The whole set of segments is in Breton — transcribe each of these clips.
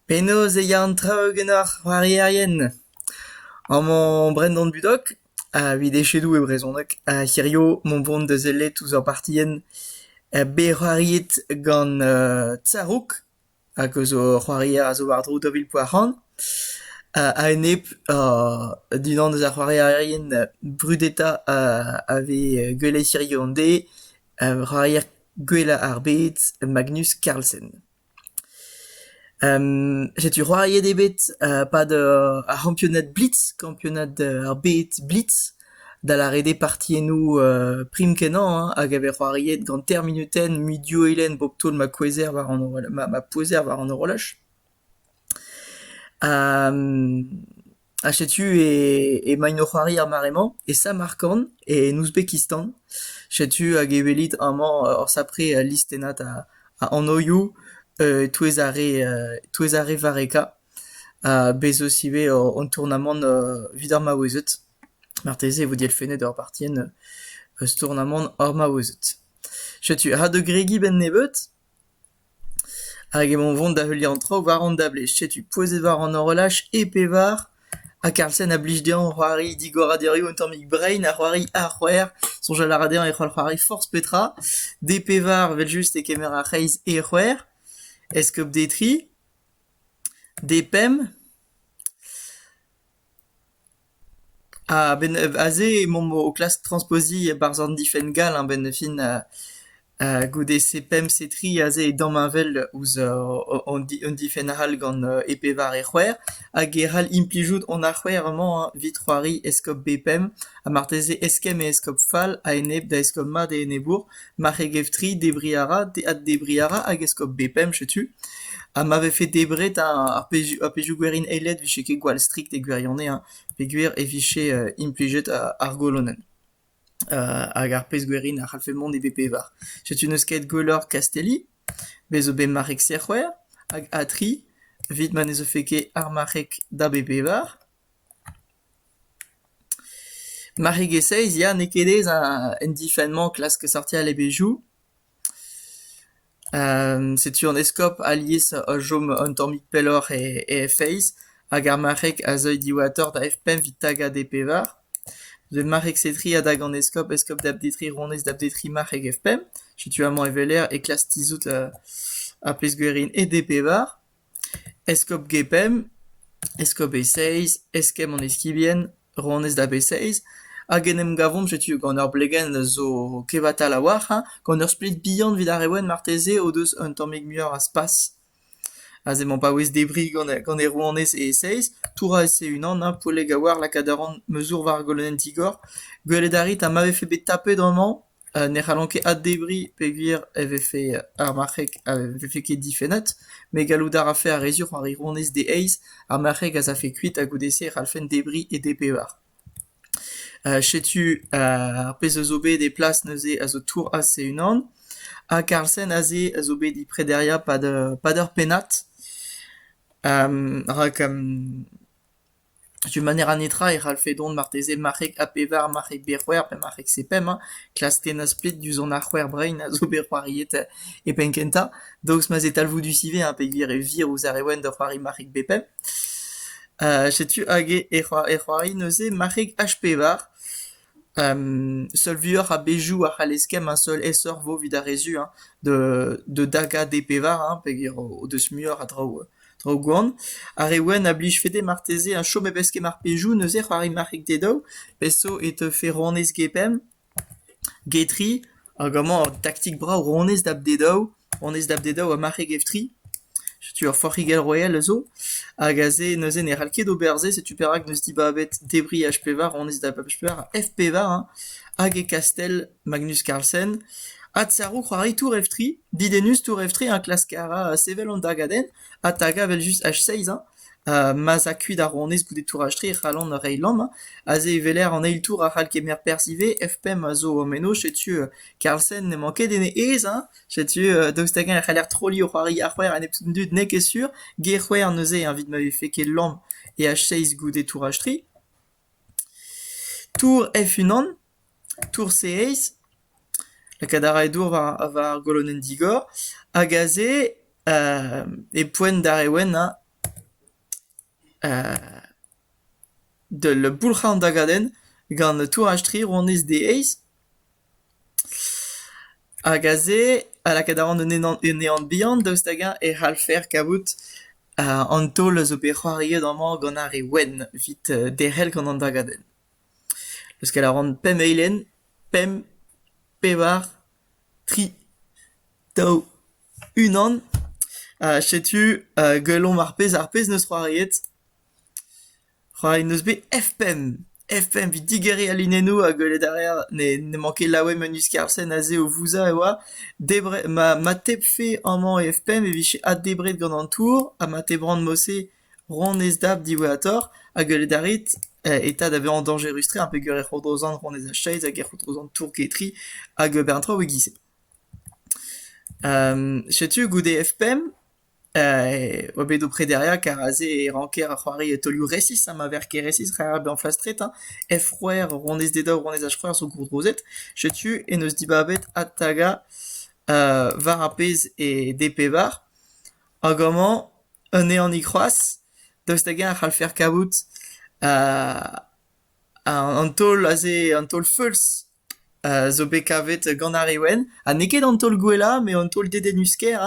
Penaos e ya an traoù ganeoc'h c'hoarierien? Amañ Brendan Budok, evit echedoù e brezhoneg, ha hirio mont vont da sellet ouzh ur partienn bet c'hoariet gant Tsarouk. hag eus o c'hoarier a zo war-dro daou vil poa-c'hant. a-enep d'unan eus ar c'hoarierien brudetañ a vez gwellet hiziv an deiz, c'hoarier gwellañ ar bed Magnus Carlsen. setu c'hoariet eo bet 'pad ar c'hampionad blitz, kampionad ar bed blitz. da lâret eo partiennoù prim-kenañ hag a vez c'hoariet gant termenutenn mui div eilenn bep taol ma kouezher war an horolaj ma pouezer war an horolaj. Ha setu emaint o c'hoari er mare-mañ e Samarkand e en Ouzbekistan. Setu hag e welit amañ ur sapre listennad a anvioù e-touez ar re varrekañ. Bez' eus ivez an tournamant evit ar maouezed. Marteze e vo dielfennet ur partienn eus tournamant ar maouezed. Setu ha da gregiñ 'benn nebeut hag emaon 'vont da heuliañ an traoù war an dablez. Setu pouezet war an horolaj e pevar ha Karlsen a blij dezhañ c'hoari digoradurioù un tammig brein ha c'hoari ar c'hwec'h. Soñjal a ra dezhañ e c'holl c'hoari forzh petra. D pevar 'vel-just e kemer ar c'hreiz e c'hwec'h. Eskob Detri. D-pemp a-benn aze emaomp o klask transpoziñ barzh an difenn gall a-benn fin goude C-pemp C-tri aze e damheñvel ouzh un difenn all gant E pevar e c'hwec'h hag e c'hall implijout hon ar c'hwec'h amañ evit c'hoari eskob B-pemp ha marteze eskemm e eskob fall a-enep da eskob mat e enebour. ma c'he gevtri debriñ a ra, addebriñ a ra hag eskob bepemp setu. Ha ma vefe debret ar pezhioù gwerin eilet 'vije ket gwall strikt e gwirionez hein, peogwir e vije implijet ar golonenn hag ar pezh gwerin a c'hallfe mont e bep pevar. Setu n'eus ket gwelloc'h Kastelli, bez zo bet marc'heg Sec'hweur hag Atri, evit ma ne zeufe ket ar marc'heg da bep pevar. Marc'hegezh-seizh ya n'eo ket aes en difenn-mañ klask sortiñ al levezhioù. setu an eskob alies a chom un tammig pelloc'h e feiz hag ar marc'heg a zeuy diwatoc'h da F5 evit tagañ D-pevar. Met marc'heg Setri a dag an eskob, eskob Dapdetri, ronez Dapdetri, marc'heg F5. Setu amañ e weler e klask tizhout ar pezh-gwerin e D-pevar. Eskob Gepemp, eskob Eseizh, eskemm an eskibien, ronez da b-Eseizh, hag en em gavomp setu gant ur blegenn zo kevatal a-walc'h hañ, gant ur splet bihan evit ar re wenn marteze o deus un tammig muioc'h a spas. Aze emañ paouez debriñ gant gant e ronez e Eseizh, touraus e-unan hañ, Poleg a-walc'h lakaat a ran ma zour war ar golonenn digor, gwelet a rit ha ma vefe bet tapet amañ. ne c'hallont ket addebriñ peogwir e vefe ar marc'heg a vefe ket difennet, met gallout a rafe ar re zur ar wirionez d'e eizh, ar marc'heg az afe kuit ha goude-se e c'hallfent debriñ e D-pevar. Setu ar pezh a zo bet e plas neuze a zo Tourhas e-unan, ha Carlsen aze a zo bet e prederiañ pad ur pennad, rak Setu ma ne ra netra e c'hallfe dont marteze marc'heg ha pevar marc'heg bet c'hwec'h pe marc'heg sepemp hein, klask tennañ splet diouzh an ar c'hwec'h brein a zo bet c'hoariet e penn-kentañ, daoust ma 'z eo talvoudus ivez hein peogwir e vir ouzh ar re wenn da c'hoari marc'heg bet pemp. Setu hag e c'hoari neuze marc'heg H pevar. seul vuoc'h a bezhioù a c'hall eskemm an seul aesoc'h 'vo 'vit ar re zu hein da dagañ d'e pevar hein peger o deus muioc'h a draoù traoù gwan. Ar re wenn a blij fete marteze ha chom hep eskemm ar pezhioù neuze c'hoari marc'hig te daou pezh zo e teufe ronez get pemp get tri hag amañ ur taktik brav ronez da dad daou Honnezh Davdeda oa marc'heg Eftri. Setu ur forc'higell royal a zo. Hag aze neuze ne c'hall ket ober se. Setu perak n'eus dibabet debriñ H-pevar, honnezh da H-pevar ha F-pevar hein, hag e kastell Magnus Carlsen. Ha tsaroù c'hoari Tour Eftri. Didennus Tour Eftri hein klask a ra sevel an dagadenn ha tagañ evel-just H-seizh hein. Ma'z a kuit ar rouanez goude touraj-tre e c'hallont reiñ lamm. Aze e weler an eil tour a c'hall kemer perzh ivez. F5 a zo o meno. Setu Karlsen n'emañ ket en e aez hein. Setu daoust hag-eñ e c'haller trolliñ o c'hoari ar c'hwec'h a nep tud n'eo ket sur. G-c'hwec'h neuze evit ma vefe ket lamm e H6 goude touraj-tre. Tour F-unan. Tour-se-Aez, lakaat a rae dour war golonenn digor, hag aze e poent d'ar re wennañ d'ul boulc'hañ-dagadenn gant touraj-tri ronez Aez. Hag aze, ha lakaat a ran un ehan bihan daoust hag-eñ e c'hallfer kavout an taol a zo bet c'hoariet amañ gant ar re wenn evit derc'hel gant an dagadenn. leuskel a ran pemp eilenn, pemp, pevar, tri, daou, unan, ha setu gwelomp ar pezh ar pezh 'neus c'hoariet. C'hoariet 'neus bet F5, F5 evit digeriñ al linennoù ha gwelet a reer ne n'emañ ket laouen Meuniz Kervsen aze o vouzañ e oa. Debret ma ma tebfe amañ e F5 e vije addebret gant an tour ha ma tebrant mod-se Rouanezed diwezhatoc'h a gelled a rit eta da vezañ dañjerus-tre ha peger e c'hourozan rouanezed a Chase hag e c'hourozan tour-getri hag un bern traoù e-giz-se. Setu goude F5 oa bet o prederiañ kar aze e ranker c'hoari taolioù resis ha ma vêr ket resis c'hall bezañ flastret hein. F-c'hwec'h rouanezeded ha rouanezed h-c'hwec'h zo gourdrozet. Setu en deus dibabet adtagañ war ar pezh eo D-pevar hag amañ Anezhañ-ni c'hoazh, daoust hag-eñ e c'hallfer kavout an taol aze an taol feulz zo bet kavet gant ar re wenn ha n'eo ket an taol gwellañ met an taol dedennus-kaer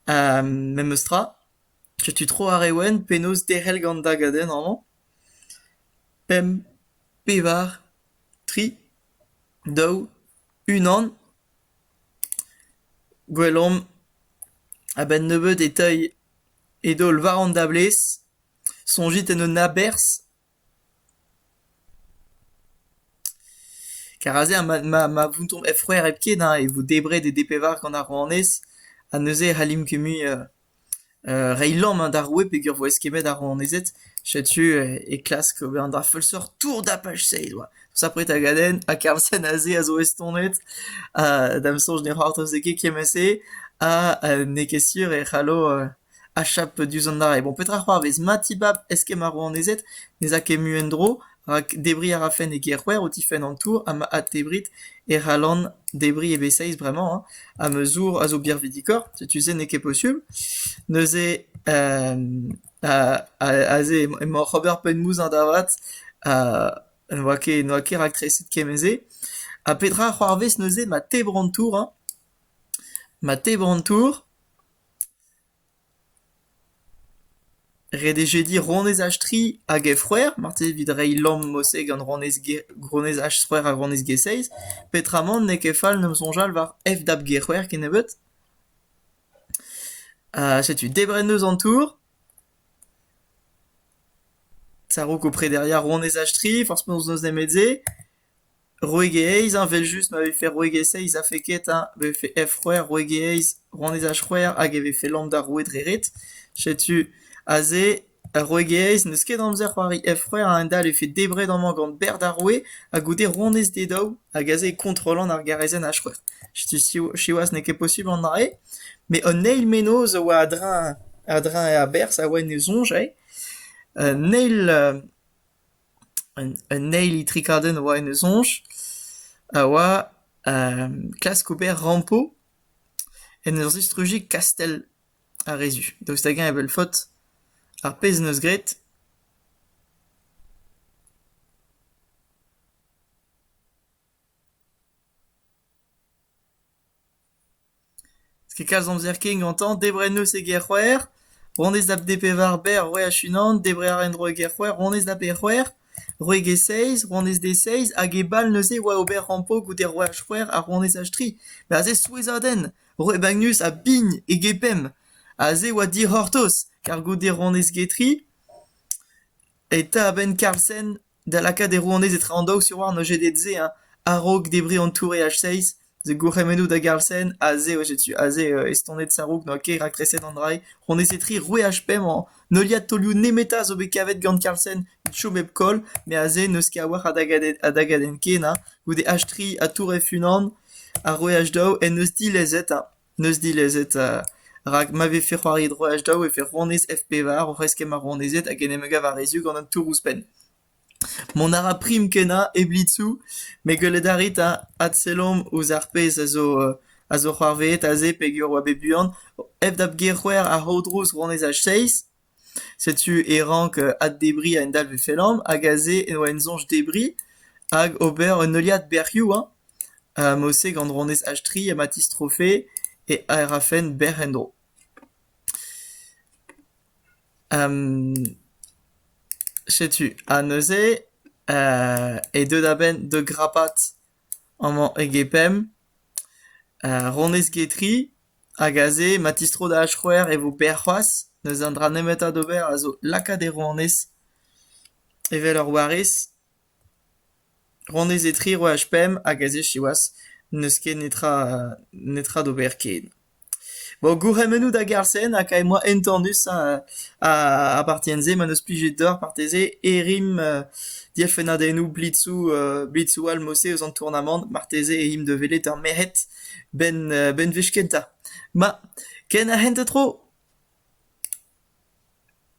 hein memestra. Setu tro ar re wenn penaos derc'hel gant an dagadenn amañ. Pemp, pevar, tri, daou, unan. Gwell omp, a-benn nebeut, e teuy e daol war an dablez, soñjit en un aberzh. Kar aze ma vountomp hep c'hwec'h hepken e vo debret e D-pevar gant ar rouanez, ha neuze e c'hallimp ket mui... reiñ lamm d'ar roue peogwir 'vo eskemmet ar rouanezed. Setu e klask ober an dra feulseurt tour dapach-se he doa. Sapre tagadenn ha Carlsen aze a zo estonet ha da'm soñj ne c'hoarvezfe ket kement-se ha n'eo ket sur e c'hallo achap diouzh an dra-se. Bon, petra 'c'hoarvez? Ma tibab eskemm ar rouanezed, ne 'z a ket mui en-dro Rak debriñ a rafen e gêr-c'hwec'h o tifenn an tour ha ma addebrit e c'hallan debriñ e-bezeiz bremañ hein, ha ma zour a zo birvidikoc'h, setu se n'eo ket posubl. Neuze aze emañ oc'h ober penn-mouzañ da vat ha n'oa ket n'oa ket raktreset kement-se. Ha petra a c'hoarvez neuze ma tebr an tour hein? Ma tebr an tour Ret eo jediñ ronez Achtri hag he c'hwec'h, marteze evit reiñ lamm mod-se gant ronez Achtrec'h ha ronez G6. Peotramant n'eo ket fall 'n em soñjal war FDAP G-c'hwec'h kennebeut. Ha setu debret eus an tour. Sarouk ho prederia ronez Achtri, forzh penaos n'eus nemet se. Rouegelezh evel-just ma vefe rouegelezh-eizh a vefe ket hein, ma vefe F-c'hwec'h rouegelezh, rouanezaj-c'hwec'h hag e vefe lamm d'ar roue dre ret. Setu aze ar rouegelezh n'eus ket amzer c'hoari F-c'hwec'h a-hend-all e vefe debret amañ gant berr d'ar roue ha goude ronez d'e daou hag aze e kontrollan ar garezenn H-c'hwec'h. Setu siwazh n'eo ket posubl an dra-se, met an eil mennozh a oa a-dreñv a-dreñv aberzh a oa en e soñj eo. Un eil Un eil itrikadenn a oa en e soñj a oa klask ober rampo en ur zistrujiñ kastell ar re zu. Daoust hag-eñ e vel faot ar pezh en deus graet? N'eus ket kalz amzer ken gantañ debriñ en deus e gêr-c'hwec'h, honnezh da d-pevar berr c'hwec'h unan, debriñ a ra en-dro e gêr-c'hwec'h, honnezh da peoc'h, c'hwek e seizh, honnezh d'e seizh, hag e bal neuze oa ober rampo goude c'hwec'h c'hwec'h ha honnezh h-tri. Met aze souezhadenn, roet bagnus ha bign e-gepemp, aze oa dic'hortoz, kar goude honnezh get-ri. eta a-benn Karlsen da lakaat e rouanez etradaos e oa an OGD-se hein, a-raok debriñ an tour EH6 the gourc'hemennoù da Garlsen aze eo setu aze estonet Sarouk n'oa ket raktreset an drailh ronez e tri roue HP mañ heuliad taolioù nemetañ zo bet kavet gant Karlsen evit chom hep koll met aze n'eus ket a-walc'h a dagadenn a dagadenn ken hein goude H3 ha tour F1 ha roue H2 en deus dilezet hein N'eus dilezet rak ma vefe c'hoari droaj daou e vefe rouanez F-pevar oc'h eskemm ar rouanezed hag en em gav a-wezhioù gant an tour ouzhpenn. Mont a ra prim kenañ e blitzoù met gwelet a rit ha adselomp ouzh ar pezh a zo a zo c'hoarvezet aze peogwir e oa bet buan. F dap ger c'hwec'h a-dro rouanezaj seizh. Setu e rank addebriñ un dalvez fellañ hag aze eo en soñj debriñ hag ober un heuliad bec'hioù hein Mosseg an Dronez H3 ha ma tistrofe e aerafenn bec'h en-dro. Setu ha neuze e deu da benn da grapat amañ e gepemp Ronez Getri. Hag aze, ma tistro da ach'c'hwer e vo berr c'hoazh, n'eus un dra nemetañ d'ober a zo lakaat e rouanez evel ur warez. Rouanez etre roaj pemp hag aze siwazh n'eus ket netra netra d'ober ken. Bon gourc'hemennoù da Garsen ha kae moa entanus ha ar partienn-se ma n'eus plijet deoc'h marteze e rimp dielfennadennoù blitzoù blitzoù all 'mod-se eus an tournamant marteze e imp da welet ar merc'hed. benn-wech kentañ. Ma, ken a hent ha tro ?